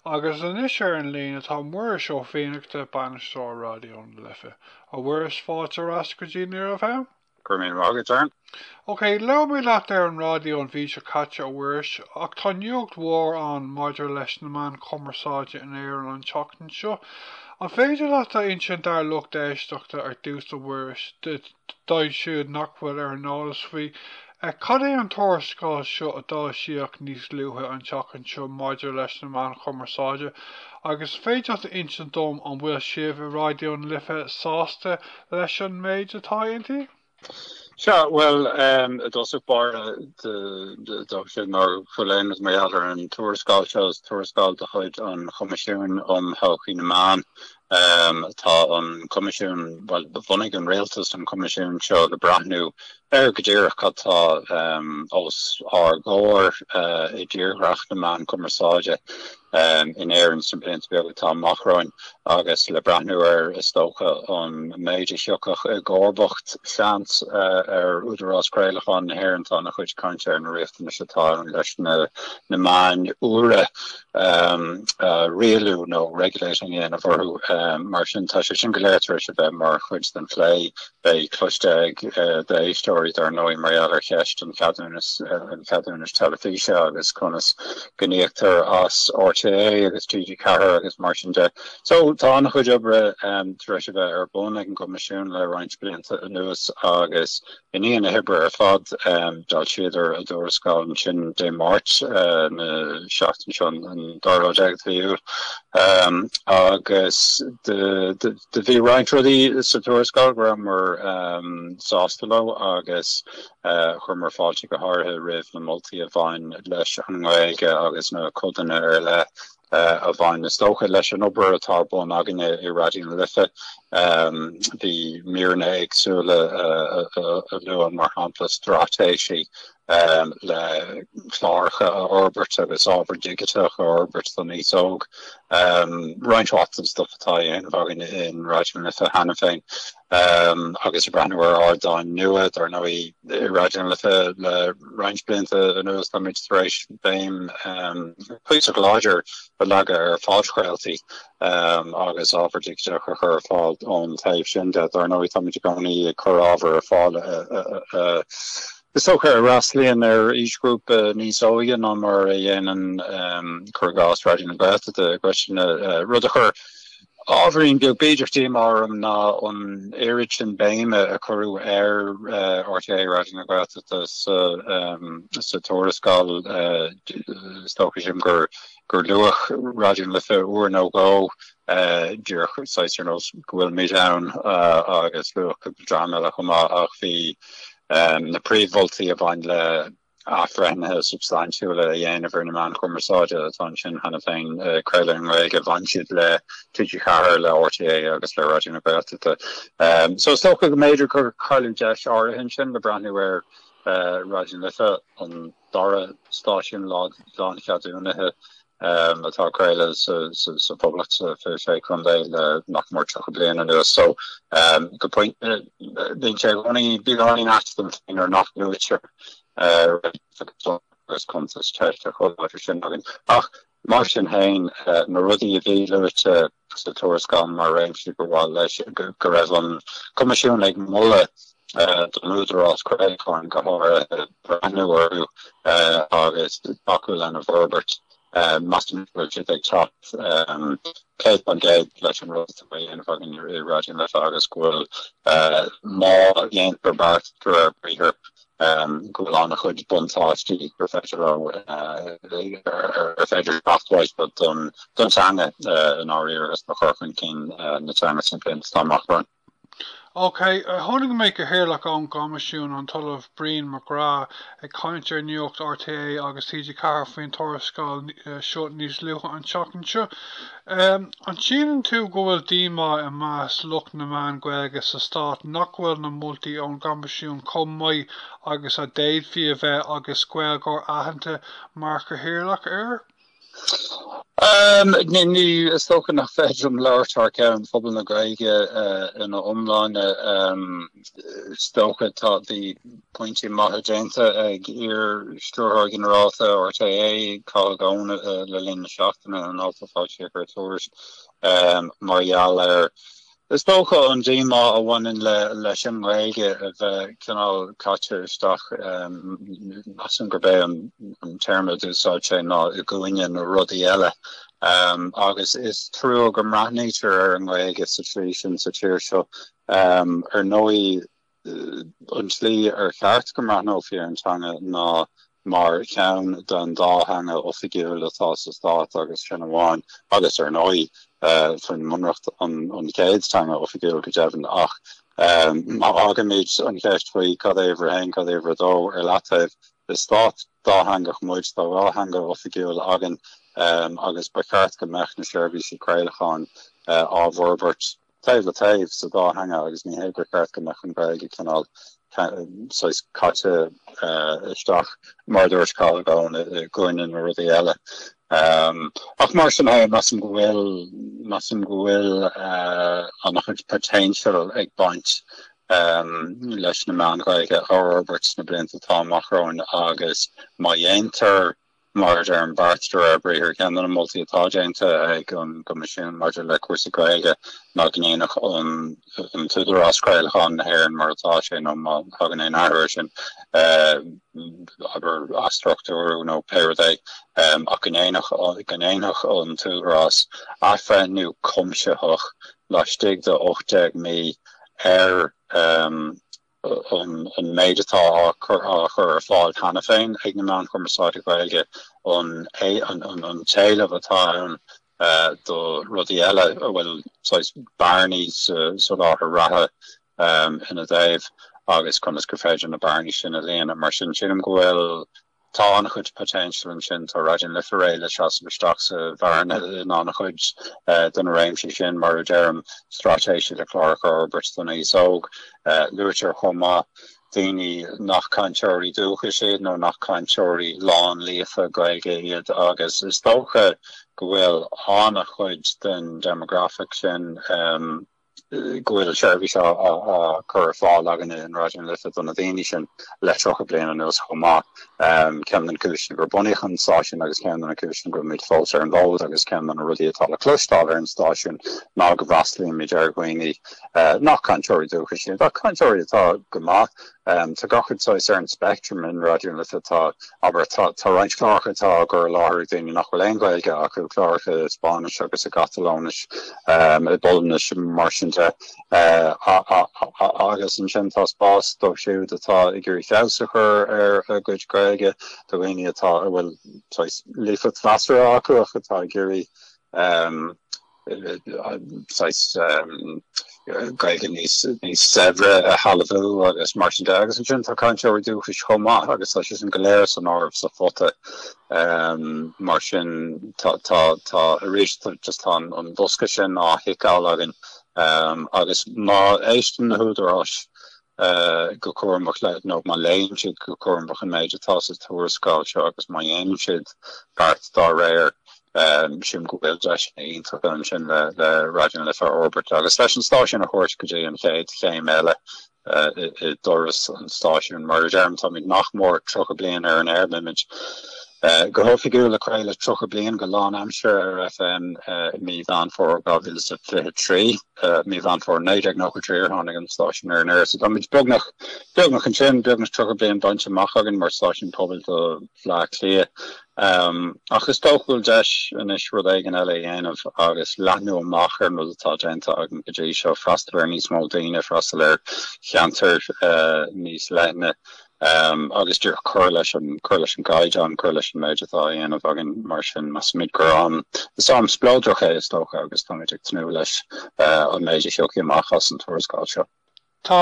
Agus anois ar an líne tá Muiris Ó Fiannachta, Bainisteoir Raidió na Life. A Mhuiris, fáilte ar ais go dtí Near FM. Go raibh míle maith agat, Darren. Ok, labhair mé leat ar an raidió an mhí seo caite, a Mhuiris, ach tá nuacht mhór ann maidir leis na meáin chumarsáide in Éirinn an tseachtain seo. An féidir leat a insint dár lucht éisteachta ar dtús, a Mhuiris, dóibh siúd nach bhfuil ar an eolas faoi. Cad é an tuarascáil seo a foilsíodh níos luaithe an tseachtain seo maidir leis na meáin chumarsáide? Agus an féidir leat a insint dom an bhfuil sibh i Raidió na Life sásta leis an méid atá inti? Sea, bhuel, i dtosach báire, is dócha mura bhfuil a fhios mar gheall ar an tuarascáil seo. Is tuarascáil de chuid an Choimisiúin um Thodhchaí na Meán Um tá an coimisiún, bhuel bhunaigh an rialtas an coimisiún seo le breathnú ar go díreach cad tá um os ár gcomhair uh i dtírdhreach na meán cumarsáide um in Éirinn sna blianta beaga atá amach romhainn agus le breathnú ar is dócha an méid a thiocfadh i gcomharbacht seans uh ar Údarás Craolacháin na hÉireann tá an-chuid cainte ar na riachtanais atá ann leis na na meáin úra. rialú nó regulating a dhéanamh orthu. Mar sin tá sé sin go léir tar éis a bheith mar chuid den phlé. Beidh cloiste ag d'éisteoirí dar ndóigh mar gheall ar cheist an cheadúnais, an cheadúnais teilifíse agus conas go n-íoctar as RTÉ agus TG4 agus mar sin de. So tá an-chuid oibre tar éis a bheith ar bun ag an gCoimisiún le roinnt blianta anuas agus I ndiaidh na hoibre ar fad, d'fhoilsíodar a dtuarascáil ansin Dé Máirt na seachtaine seo, an dara lá déag de mhí Iúil, agus do bhí roinnt rudaí sa tuarascáil go rabhamar sásta leo agus chuireamar fáilte go háirithe roimh na moltaí a bhain leis an nGaeilge agus na codanna ar leith eh, a bhain, is dócha, leis an obair atá ar bun againne i Raidió na Life. Em, Bhí míreanna éagsúla eh, a a- a luann mar shampla straitéisí em, le cláracha a fhorbairt agus ábhar digiteach a fhorbairt don aos óg. Em, Roinnt mhaith den stuff atá á dhéanamh againne in Raidió na Life cheana féin. agus ag breathnú ar ardáin nua. Dar ndóigh, i Raidió na Life le roinnt blianta anuas táimid tar éis béim chuíosach láidir a leagan ar phodchraoltaí agus ábhar digiteach a chur ar fáil ón taobh sin de. Dar ndóigh táimid i gcónaí ag cur ábhar ar fáil is dócha a fhreastlaíonn ar aoisghrúpa níos óige ná mar a dhéanann, cuir i gcás, Raidió na Gaeltachta. An cheist, an rud a chuir. Ábhairín beag b'fhéidir díomá orm ná an oiread sin béime a cuireadh ar RTÉ Raidió na Gaeltachta sa tuarascáil. Is dócha sin gur luadh Raidió na Life uair nó dhó díreach saghas ar nós go bhfuilimid ann agus luadh cúpla dream eile chomh maith ach bhí na príomh-mholtaí a bhain le athbhreithnithe substaintiúla a dhéanamh ar na meáin chumarsáide atá ansin cheana féin, craoladh i nGaeilge, bhain siad le TG4, le RTÉ agus le Raidió na Gaeltachta. So is dócha go mb'fhéidir gur cailleadh deis áirithe ansin le breathnú ar Raidió na Life, an dara stáisiún lán-cheadúnaithe atá ag craoladh sa Phoblacht sna Fiche Sé Chontae le nach mór tríocha bliain anuas so go pointe bíonn sé i gcónaí bíonn a roinnt measaim féin ar nach luaitear roinnt agus agus cuntas teiste chomh láidir sin againn ach mar sin féin na rudaí a bhí luaite sa tuarascáil mar réimsí gurbh áil leis go raibh an Coimisiún ag moladh don Údarás Craolacháin go háirithe breathnú orthu agus tacú lena bhforbairt. Measaim go bhfuil siad ag teacht 100% leis an rud atá á dhéanamh againn i Raidió na Life agus go bhfuil, má dhéantar beart de réir briathair, go bhfuil an-chuid buntáistí gur féidir leo, ar féidir teacht uaidh don teanga i ndáiríre agus do chur chun cinn na teanga sna blianta atá amach romhainn. OK. Chonaic mé Cathaoirleach ón gCoimisiún, an tOllamh Brian Mac Craith, ag caint ar Nuacht RTÉ agus TG4 faoin tuarascáil seo níos luaithe an tseachtain seo. An síleann tú go bhfuil díomá i measc lucht na meán Gaeilge sa stát nach bhfuil na moltaí ón gCoimisiún chomh maith agus a d'fhéadfaí a bheith agus Gaeilgeoir aitheanta mar chathaoirleach air? Ní, is dócha nach féidir liom labhairt thar ceann phobal na Gaeilge ina iomláine. Is dócha tá bhí pointí maithe déanta ag iar-stiúrthóir ginearálta RTÉ, Cathal Goan le linn na seachtaine in alt a foilsíodh ar Tuairisc mar gheall air. Is dócha an díomá a bhaineann leis an nGaeilge a bheith cineál caite isteach. Measaim gurb é an téarma d'úsáid sé ná i gcúinne na rudaí eile agus is trua go mbreathnaítear ar an nGaeilge sa tslí sin sa tír seo Ar ndóigh, an slí ar cheart go mbreathnófaí ar an teanga ná mar cheann den dá theanga oifigiúil atá sa stát agus sin amháin. Agus ar ndóigh, faoin mbunreacht, an chéad teanga oifigiúil go deimhin. Ach má fhágaimid an cheist faoi cad é uimhir a haon, cad é uimhir a dó ar leataobh, is stát dátheangach muid, tá dhá theanga oifigiúil againn agus ba cheart go mbeadh na seirbhísí craolacháin á bhforbairt. taobh le taobh sa dá theanga agus ní hé gur cheart go mbeadh an Ghaeilge cineál saghas caite isteach mar a dúirt Cathal i gcoinne na rudaí eile. Ach mar sin féin, measaim go bhfuil measaim go bhfuil an-chuid potential ag baint leis na meáin Ghaeilge a fhorbairt sna blianta atá amach romhainn agus má dhéantar Maidir le beart de réir briathair, ceann de na moltaí atá déanta ag an gCoimisiún maidir le cúrsaí Gaeilge ná go ndéanfadh an tÚdarás Craolacháin na hÉireann mar atá sé nó má thagann aon athrú air sin, abair athstruchtúrú nó pé rud é, ach go ndéanfadh an tÚdarás athbhreithniú cuimsitheach laistigh de 18 mí ar. an méid atá á chur ar fáil cheana féin ag na meáin chumarsáide Ghaeilge, an t-éileamh atá ann do rudaí eile, an bhfuil saghas bearnaí sa soláthar reatha ina dtaobh agus conas gur féidir na bearnaí sin a líonadh. Mar sin, sílim go bhfuil Tá an-chuid potential ansin, tá Raidió na Life réidh le seasamh isteach sa bhearna in an-chuid de na réimsí sin, mar a deirim, straitéisí le cláracha a fhorbairt don aos óg. Luaitear chomh maith daoine nach cainteoirí dúchais iad nó nach cainteoirí lánlíofa Gaeilge iad agus is dócha go bhfuil an-chuid den demographic sin, go bhfuil seirbhís á cur ar fáil againn in Raidió na Life do na daoine sin le tríocha bliain anuas chomh maith. Ceann de na cúiseanna gur bunaíodh an stáisiún agus ceann de na cúiseanna go mbímid fós ar an bhfód agus ceann de na rudaí atá le cloisteáil ar an stáisiún ná go bhfreastalaímid ar dhaoine nach cainteoirí dúchais iad ach cainteoirí atá go maith Tá gach shade saghas ar an speictream in Raidió na Life, tá, abair, tá roinnt cláracha atá á gcur i láthair ag daoine nach bhfuil aon Ghaeilge acu, cláracha i Spáinnis agus i gCatalóinis, i bPolainnis, mar sin de, agus ansin tá spás dóibh siúd atá ag iarraidh feabhas a chur ar a gcuid Gaeilge, do dhaoine atá a bhfuil saghas líofacht mheasartha acu ach atá ag iarraidh saghas Gaeilge níos saibhre a shealbhú agus mar sin de. Agus ansin tá cainteoirí dúchais chomh maith agus tá siadsan go léir san áireamh sa phota. Mar sin tá arís just tá an bosca sin á thiceáil againn agus má éisteann na húdaráis go cúramach le nó má léann siad go cúramach an méid atá sa tuarascáil seo agus má dhéanann siad beart dá réir, sílim go bhfuil deiseanna iontacha ansin le Raidió na Life a fhorbairt agus leis an stáisiún a thabhairt go dtí an chéad chéim eile i dturas an stáisiúin. Mar a deirim, táimid nach mór 30 bliain ar an aer, beimid go hoifigiúil ag craoladh 30 bliain go lánaimseartha ar FM i mí Mheán Fómhair 2023. I mí Mheán Fómhair 1993 a tháinig an stáisiún ar an aer, so táimid beagnach beagnach ansin, beagnach 30 bliain bainte amach againn mar stáisiún pobail do Bhleá Cliath. Ach is dócha go bhfuil deis anois rud éigin eile a dhéanamh agus leathnú amach ar an rud atá déanta againn go dtí seo, freastal ar níos mó daoine, freastal ar cheantair níos leithne. Am agus díreach, cur leis an cur leis an gcaighdeán, cur leis an méid atá á dhéanamh againn. Mar sin, measaimid gur am is am spleodrach é, is dócha, agus táimid ag tnúth leis an méid a thiocfaidh amach as an tuarascáil seo. Tá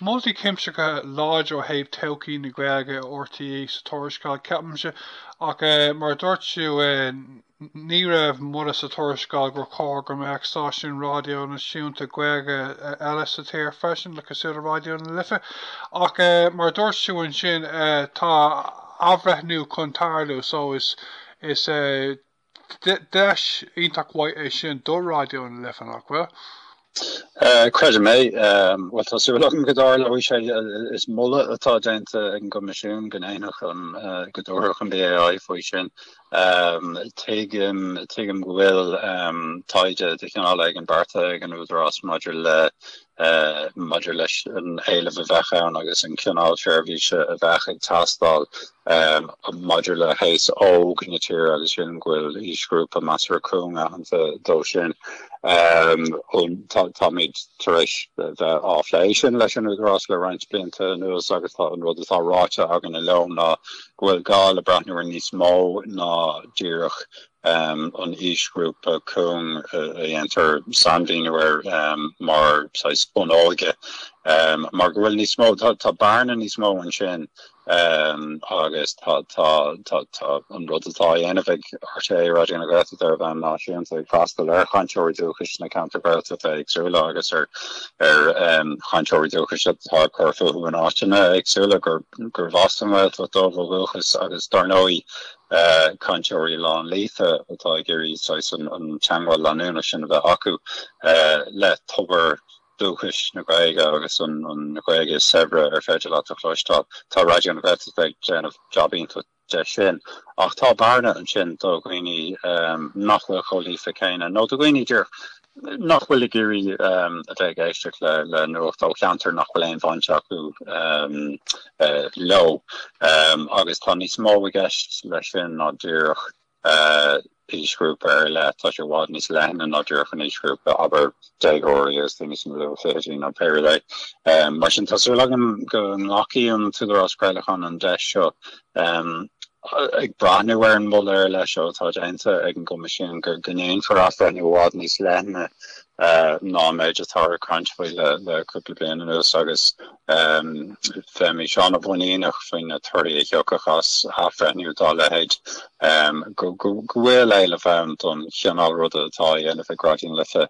moltaí cuimsitheacha láidir ó thaobh todhchaí na Gaeilge i RTÉ sa tuarascáil, ceapaimse, ach mar a dúirt tú, Ní raibh moladh sa tuarascáil gur chóir go mbeadh stáisiún raidió náisiúnta Gaeilge eile sa tír freisin le cosúil le Raidió na Life, ach mar a dúirt tú ansin tá athbhreithniú chun tarlú so is is deis iontach mhaith é sin do Raidió na Life, nach bhfuil? Creidim é. Bhuel, tá súil agam go dtarlóidh sé. Is moladh atá déanta ag an gCoimisiún go ndéanfadh an, go dtabharfadh an BAI faoi sin. Tuigim, tuigim go bhfuil taighde de chineál éigin beartaithe ag an Údarás maidir le, maidir leis an éileamh a bheadh ann agus an cineál seirbhíse a bheadh ag teastáil. amh maidir le haos óg na tíre agus sin go bhfuil aoisghrúpa measartha cúng aitheanta dó sin. Táimid tar éis bheith á phlé sin leis an Údarás le roinnt blianta anuas agus tá an rud atá ráite againn ar a laghad ná go bhfuil gá le breathnú ar níos mó ná díreach an aoisghrúpa cúng a dhéantar sainmhíniú air mar saghas bun óige mar go bhfuil níos mó, tá bearna níos mó ansin agus tá an rud atá á dhéanamh ag rté Raidió na Gaeltachta ar bhonn náisiúnta ag freastal ar chainteoirí dúchais na gceantar Gaeltachta éagsúla agus ar chainteoirí dúchais atá ag cur fúthu in áiteanna éagsúla gurbh as an Ghaeltacht dóibh ó dhúchas agus dár ndóigh cainteoirí lán-líofa atá ag iarraidh saghas an teangmháil leanúnach sin a bheith acu le tobar dúchais na Gaeilge agus an Ghaeilge is saibhre ar féidir leat a chloisteáil. Tá Raidió na Gaeltachta ag déanamh jab iontach de sin ach tá bearna ansin do dhaoine nach bhfuil chomh líofa céanna nó do dhaoine díreach Nach bhfuil ag iarraidh a bheith ag éisteacht le nuacht ó cheantar nach bhfuil aon bhaint acu leo agus tá níos mó i gceist leis sin ná díreach aoisghrúpa ar leith. Tá sé i bhfad níos leithne ná díreach an aoisghrúpa, abair, déagóirí agus daoine sna luathfhichidí nó pé rud é. Mar sin, tá súil agam go nglacfaidh an tÚdarás Craolacháin an deis seo. ag breathnú ar an moladh ar leith seo atá déanta ag an gCoimisiún gur go ndéanfar athbhreithniú i bhfad níos leithne ná an méid atáthar ag caint faoi le cúpla bliain anuas agus bheimís an-mhuiníneach faoi na torthaí a thiocfadh as athbhreithniú dá leithéid, go bhfuil éileamh ann don chineál ruda atá á dhéanamh ag Raidió na Life.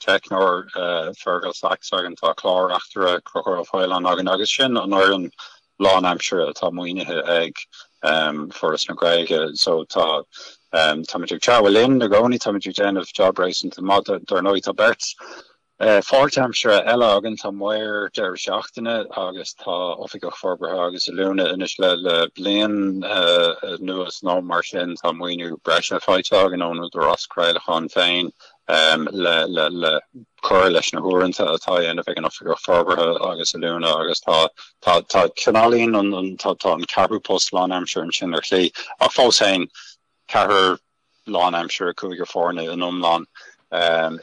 teicneoir Fergal Sachs againn, tá clár-reachtaire Conchúr Ó Faoláin againn agus sin an fhoireann lánaimseartha atá maoinithe ag Foras na Gaeilge so tá táimid ag treabhadh linn i gcónaí, táimid ag déanamh jab réasúnta maith, dar ndóigh tá beirt pháirtaimseartha eile againn, tá maor deireadh seachtaine agus tá oifigeach forbartha agus oiliúna anois le bliain anuas nó mar sin, tá maoiniú breise faighte againn ón Údarás Craolacháin féin. le cur leis na huaireanta atá á dhéanamh ag an Oifigeach Forbartha agus Oiliúna agus tá cineálaíonn tá an ceathrú post lánaimseartha ansin ar shlí ach fós féin ceathrar lánaimseartha cúigear foirne in iomlán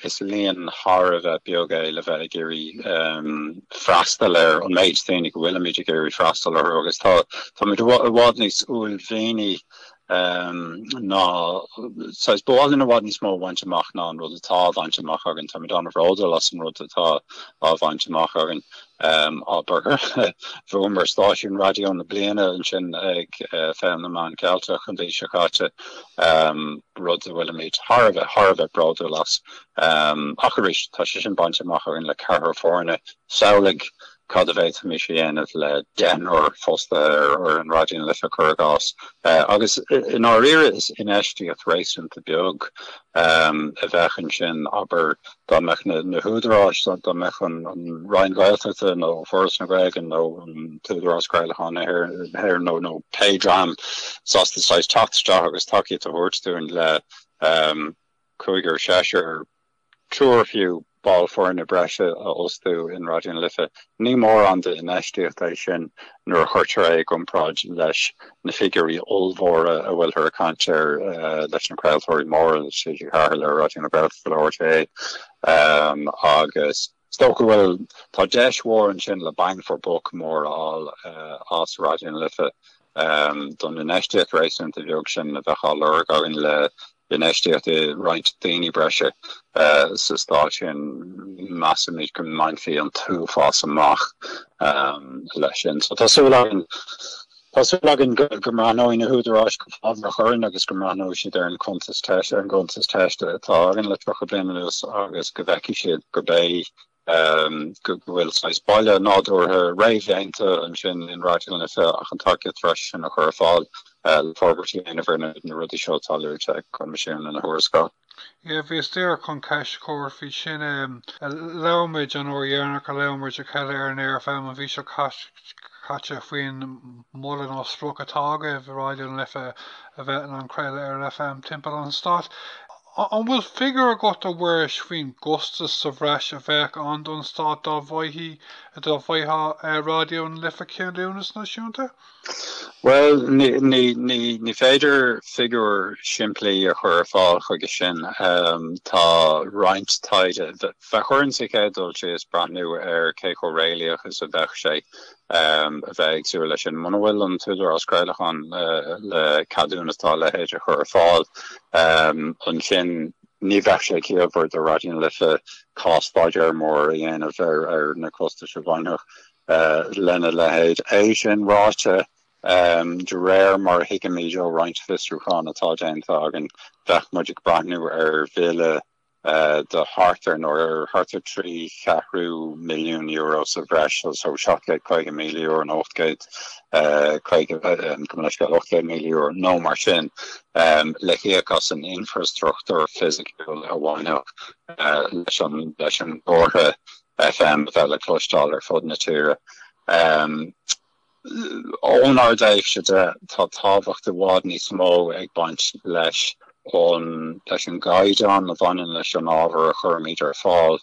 is líon thar a bheith beag é le bheith ag iarraidh freastal ar an méid daoine go bhfuilimid ag iarraidh freastal orthu agus táimid i bhfad níos uaillmhianaí ná saghas ba mhaith linn i bhfad níos mó a bhaint amach ná an rud atá á bhaint amach againn. Táimid an-bhródúil as an rud atá á bhaint amach againn, abair, bhuamar stáisiún raidió na bliana ansin ag Féile na Meán Ceilteach an mhí seo caite, rud a bhfuilimid thar a bheith, thar a bheith bródúil as. Ach arís, tá sé sin bainte amach againn le ceathrar foirne samhlaigh Cad a d'fhéadfaimis a dhéanamh le deichniúr fostaithe ar fhoireann Raidió na Life, cuir i gcás? Agus i ndáiríre is infheistíocht réasúnta beag a bheadh ansin, abair, dá mbeadh na húdaráis, dá mbeadh an Roinn Ghaeltachta nó Foras na Gaeilge nó an tÚdarás Craolacháin na hÉireann nó pé dream sásta saghas teacht isteach agus tacaíocht a thabhairt dúinn le cúigear, seisear triúr fiú, ball foirne breise a fhostú in Raidió na Life. Ní mórán d'infheistíocht é sin nuair a chuirtear é i gcomparáid leis na figiúirí ollmhóra a bhfuilthear ag caint air leis na craoltóirí móra, TG4 le Raidió na Gaeltachta le RTÉ agus. Is dócha go bhfuil. Tá deis mhór ansin le bang for buck mór a fháil as Raidió na Life don infheistíocht réasúnta bheag sin a bheadh á lorg againn le infheistíocht i roinnt daoine breise sa stáisiún. Measaimid go mbainfí an t-uafás amach leis sin so tá súil againn. Tá súil againn go mbreathnóidh na húdaráis go fábhrach orainn agus go mbreathnóidh siad ar an, ar an gcuntas teiste atá againn le 30 bliain anuas agus go bhfeicfidh siad gurb é go bhfuil saghas baile nádúrtha réamhdhéanta ansin in Raidió na Life ach an tacaíocht bhreise sin a chur ar fáil le forbairtí a dhéanamh ar na rudaí seo atá luaite ag an gCoimisiún ina thuarascáil. Yeah, bhíos díreach chun ceist a chur faoi sin em labhair muid an uair dheireanach a labhair muid le chéile ar an aer faoin bhfís seo caite faoin moladh nó sprioc atá agaibh Raidió na Life a bheith in ann craoladh ar an FM timpeall an stáit an bhfuil figiúr agat a Mhuiris faoin gcostas sa bhreis a bheadh ann don stát dá bhfaigheadh dá bhfaigheadh Raidió na Life ceadúnas náisiúnta? Bhuel ní féidir figiúr simplí a chur ar fáil chuige sin. Tá roinnt taighde, bheadh orainn sa chéad dul síos breathnú ar cé chomh réalaíoch is a bheadh sé a bheith ag súil leis sin. Muna bhfuil an tÚdarás Craolacháin le ceadúnas dá leithéid a chur ar fáil ansin ní bheadh sé ciallmhar do Raidió na Life cás-staidéar mór a dhéanamh ar na costais a bhainfeadh Lena leithéid. É sin ráite, de réir mar a thuigimid ó roinnt fiosrúchán atá déanta againn, bheadh muid ag breathnú ar bhille de thart ar nó thart ar trí cheathrú milliún euro sa bhreis, so €750,000 nó 850, gabh mo leithscéal, €800,000 nó mar sin, le híoc as an infreastruchtúr fisiciúil a bhainfeadh leis an gcomhartha. FM a bheith le cloisteáil ar fud na tíre. Ónár dtaobhsa de, tá tábhacht i bhfad níos mó ag baint leis an leis an gcaighdeán a bhaineann leis an ábhar a chuirimid ar fáil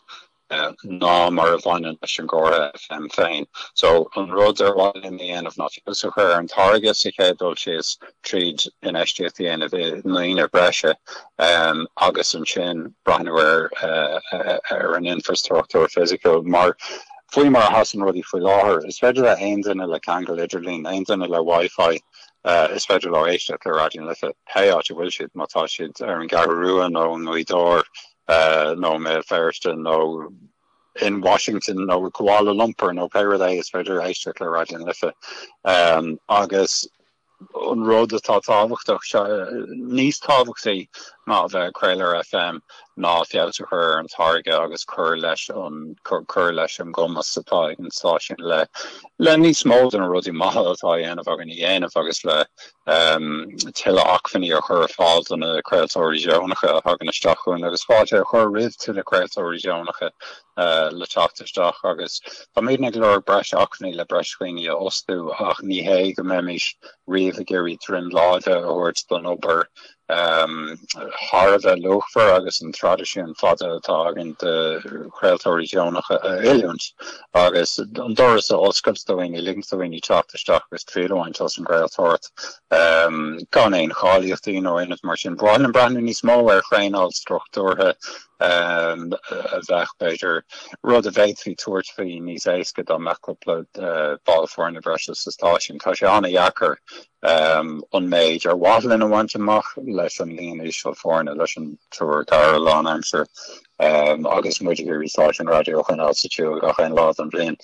ná mar a bhaineann leis an gcomhartha FM féin. So, an rud ar mhaith linn a dhéanamh ná feabhas a chur ar an táirge sa chéad dul síos tríd infheistíocht a dhéanamh i ndaoine breise agus ansin breathnú ar an infreastruchtúr fisiciúil. Mar, faoi mar a sheasann rudaí faoi láthair, is féidir le haon duine le ceangal idirlín, aon duine le WiFi, is féidir leo éisteacht le Raidió na Life pé áit a bhfuil siad, má tá siad ar an gCeathrú Rua nó i nGaoth Dobhair nó i mBéal Feirste nó in Washington nó i Kuala Lumpur nó pé rud é, is féidir éisteacht le Raidió na Life. Agus. an rud atá tábhachtach, níos tábhachtaí ná a bheith ag craoladh ar FM ná feabhas a chur ar an táirge agus cur leis an, cur leis an gcumas atá ag an stáisiún le, le níos mó de na rudaí maithe atá á dhéanamh againn a dhéanamh agus le tuilleadh acmhainní a chur ar fáil do na craoltóirí deonacha a thagann isteach chugainn agus fáilte a chur roimh tuilleadh craoltóirí deonacha eile le teacht isteach agus táimidne ag lorg breis acmhainní le breis daoine a fhostú ach ní hé go mbeimis riamh ag iarraidh droim láimhe a thabhairt don obair thar a bheith luachmhar agus an traidisiún fada atá againn de chraoltóirí deonacha a oiliúint agus an doras a oscailt do dhaoine, ligint do dhaoine teacht isteach agus triail a bhaint as an gcraoltóireacht gan aon cháilíochtaí nó aon rud mar sin. Ba mhaith linn breathnú níos mó ar thraenáil struchtúrtha a bheadh, b'fhéidir, rud a bhféadfaí tabhairt faoi níos éasca dá mbeadh cúpla ball foirne breise sa stáisiún. Tá sé an-deacair an méid ar mhaith linn a bhaint amach leis an líon íseal foirne, leis an triúr, ceathrar lánaimseartha agus muid ag iarraidh stáisiún raidió a choinneáil sa siúl gach aon lá den bhliain.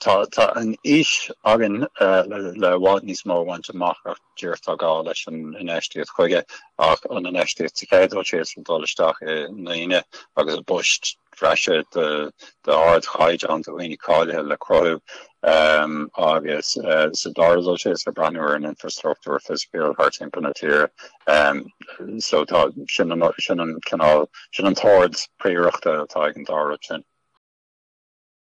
Tá an fhís againn le i bhfad níos mó a bhaint amach ach díreach tá gá leis an infheistíocht chuige. Ach an infheistíocht sa chéad dul síos ag dul isteach i ndaoine agus i bpoist breise d'ardchaighdeán do dhaoine cáilithe le cruthú agus sa dara dul síos ag breathnú ar an infreastruchtúr fisiciúil thart timpeall na tíre so tá sin an sin an cineál sin an t-ord prióireachta atá ag an dá rud sin.